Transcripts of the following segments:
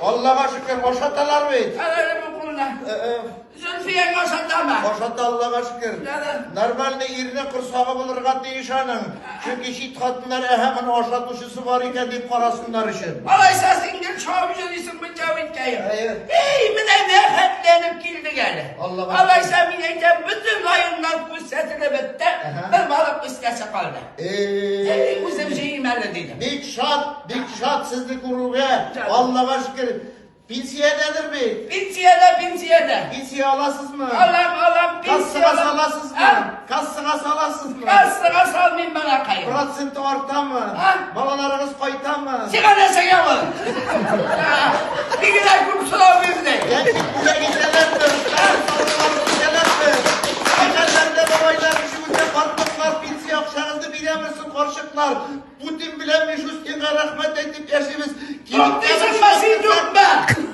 Аллага шөкер, ашаталар бит. Әле бу кулына. Зөлфияң ашатамы? Ашата Аллага шөкер. Нормальный ирне корсагы булырга тиеш аның. Чөнки чит хатыннар әһә моны ашатучысы бар икән дип карасыннар өчен. Алайса син гел шау йөрисең бу җавиткә. Эй, менә нәфәтләнеп килдек әле. Аллага. Алайса мин әйтәм, бөтен районнар күрсәтелеп бетте. Бер балык үскәсе калды. Эй, үзем җыйм әле диде. Бик шат, бик шат сезне күрүгә. Аллага шөкер. Пенсиядәдер бит. Пенсиядә, пенсиядә. Пенсия аласызмы? Алам, алам, пенсия. Кассага саласызмы? Кассага саласызмы? Кассага салмыйм балакай. Проценты артамы? Балаларыгыз кайтамы? Сиңа нәрсәгә ул? Бигрәк күп сорау бирде. Яки күләгәләр Үзә картлыклар пенсия акчагызны бирәме соң, карчыклар? Путин белән Мишустинга рәхмәт әйтеп яшибез. Тактизм мәсин юкмы?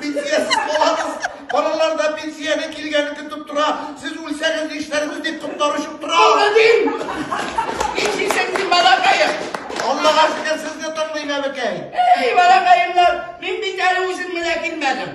Пенсиясез балагыз, балалар да пенсияне килгәне көтеп тора. Сез үлсәгез нишләргез дип котлар очып тора. Молодин! Нишлисең син, балакаем? Аллага шөкер, сезне тыңлыйм, әбекәй. Эй, балакаемнар, мин бит әле үзем менә килмәдем.